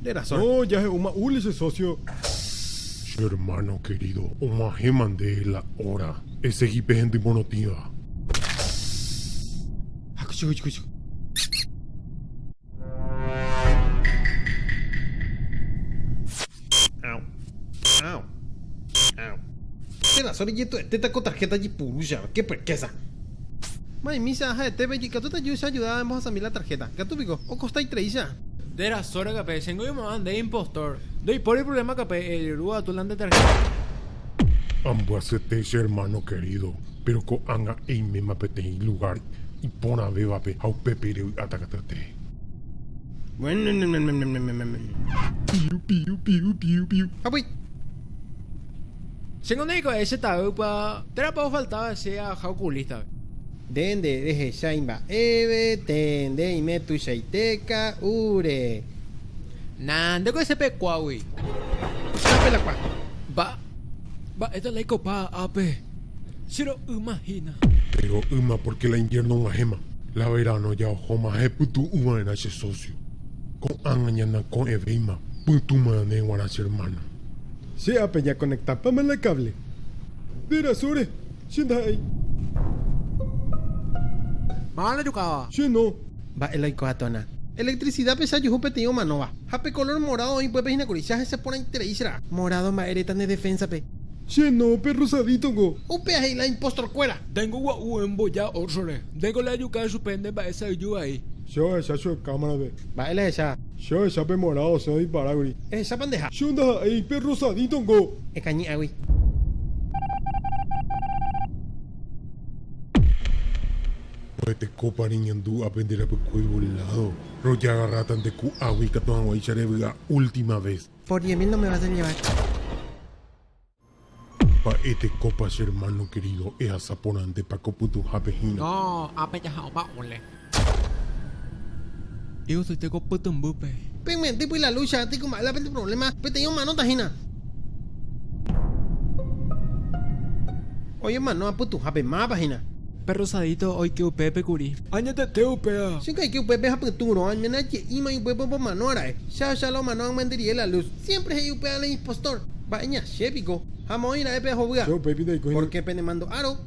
Nde razón. No, jahe'úma Uli che socio. Che hermano querido, og̃uahẽma nde la hora. Esegi pe hendy morotĩva. Nde razón rejetu'etéta ko tarjeta jepuru jave. Qué perquésa. Ma'ẽ micha ha'etépe ikatúta Juice ajudáva embohasami la tarjeta. Ikatu piko, okosta itreicha. De rasóre kape, chéngo oimo'ã nde impostor. Ndoipóri ipruvléma kape, ejerúva atu la nde tarjeta. Ambyasete che hermano querido, péro ko'ág̃a eiméma peteĩ lugár iporãvévape ha upépe revy'áta katyete. Piu, piu, piu, piu, piu. Japy. Che nde hikuái che ta'ýpa, térãpa ofaltáva che aja okulístape. Nde nde rehecha imba'eve, tee nde ime tuichaite ka'úre. Na nde ko ese pekuágui. Chápe la kua. Mba, mba'éta la ikopa ápe. Che ro'ýma hína. Nde ro'ýma pórke la inviérno og̃uahẽma, la veráno ja ohóma ha epytu'ũ va'erã che sósio. Ko'ág̃a ñanakõ'ẽvéima pytũ marãne g̃uarã che ermáno. Che ápe ñakonektapáma la káble. Nde rasóre, che ndaha'éi. Mávapa rejukáva. Che no. Mba'e la oiko'atona. Electricidápe che ajuhu peteĩ omanóva. Ha pe color morado oĩ pype hína kuri. Che ahese porãiterei che ra'a. Morado mba'e reta ne defensa-pe. Che no, pe rosadito ko. Upéva he'i la impostor kuéra. Ndéngo gua'u oĩ mboja orsore. Ndéngo la ajuka chupe nde mba'e sa'yju vai. Che ohecha che cámara-pe. Mba'e la ehecha. Che ohecha pe morado osẽ odiparáguri. Ehechápa ndeha. Che ondaha'éi pe rosadito nko. Ekañy'águi. Ohetekópa reñandu ápe nde rapykue ivoládo, rojagarráta nde ku'águi ikatu hag̃uáicha revy'a última vez. Por diez mil no me vas a llevar. Mba'etekópa che hermano querido ehasa porãntépa ko pytuhápe hína. No, ápe jaha'õpa ole. Egosoite ko pytũmbýpe. Pe mye'ẽty py la lucha aty ku mba'e la pende problema peteĩ omanóta hína. Oñemano apytuhápe mápa hína. Perro sadito oike upépe kuri. Añetete upéva. Che ndaike upépe ha pytũ rõ, añméne aje'ímai upépe opomano aráe. Che ahecha la omano ag̃uenterie la luz. Siempre he'i upéva la impostor. Mba'e ñache piko. Ha moõi ra'e pe ahovýa. Che upéipi ndaikói. Porque pene mando'áro.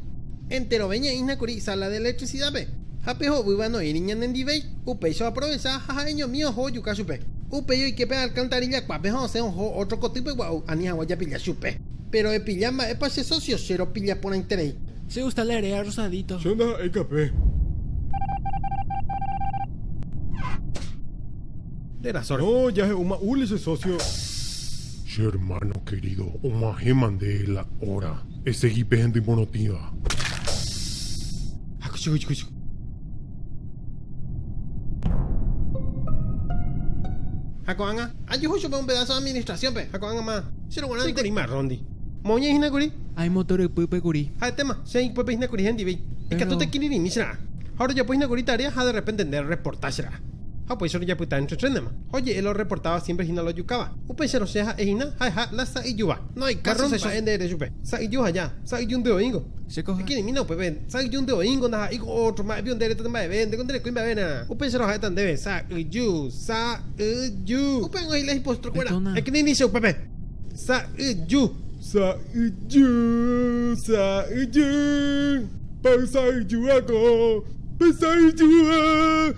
Enterove ñe'ĩhna kuri isala de electricidad-pe. Ha pe hovýva noĩri ñane ndivéi. Upéicha oaprovecha ha ha'eñomi oho ojuka chupe. Upéi oike pe alcantarilla kuápe ha osẽ oho otro kotýpe gua'u ani hagua japilla chupe. Pero epilla mba'épa che socio che ropilla porãiterei. Che gusta la erea rosadito. Che ndaha'éi kape. De la sorte. No, jahe'úma Uli che socio. Che hermano querido, omãhéma nde la hora. Esegi pe hendy morotĩva. Hakuchikuchukuchu. Ha ko'ág̃a, ajuhu chupe un pedaso administrasiónpe, ha ko'ág̃ama, che roguarã nde kuri marróndi. Moõiñai hína kuri. Ai motor ypýpe kuri. Ha'etéma, che ykpépe hína kuri hendivéi. Ikatu tekirirĩmi che ra'a. Ha orojapo hína kuri tarea ha de repente nde reporta che ra'a. Ha upéicha orojapyta entre trénema. Ha oje'e la orreportáva siempre hína la ojukáva. Upéicharõ che ha'e hína ha'eha la sa'yjúva. Kárro mba'e nde ere chupe, sa'yju aja, sa'yjundy oĩngo. Ekirirĩmína upépe, sa'yjundy oĩngo, ndaha'éiko ótro, mba'épi onde eretate mba'eve, ndéko nde rekói mba'eve erã. Upéicha roha'éta ndéve, sa'yju, sa'yju. Upe oĩ la hipóstro kuéra. Ekirirĩcha upépe, sa'yju, sa'yju, sa'yju. Pa'y sa'yju akõ, pe sa'yjúa.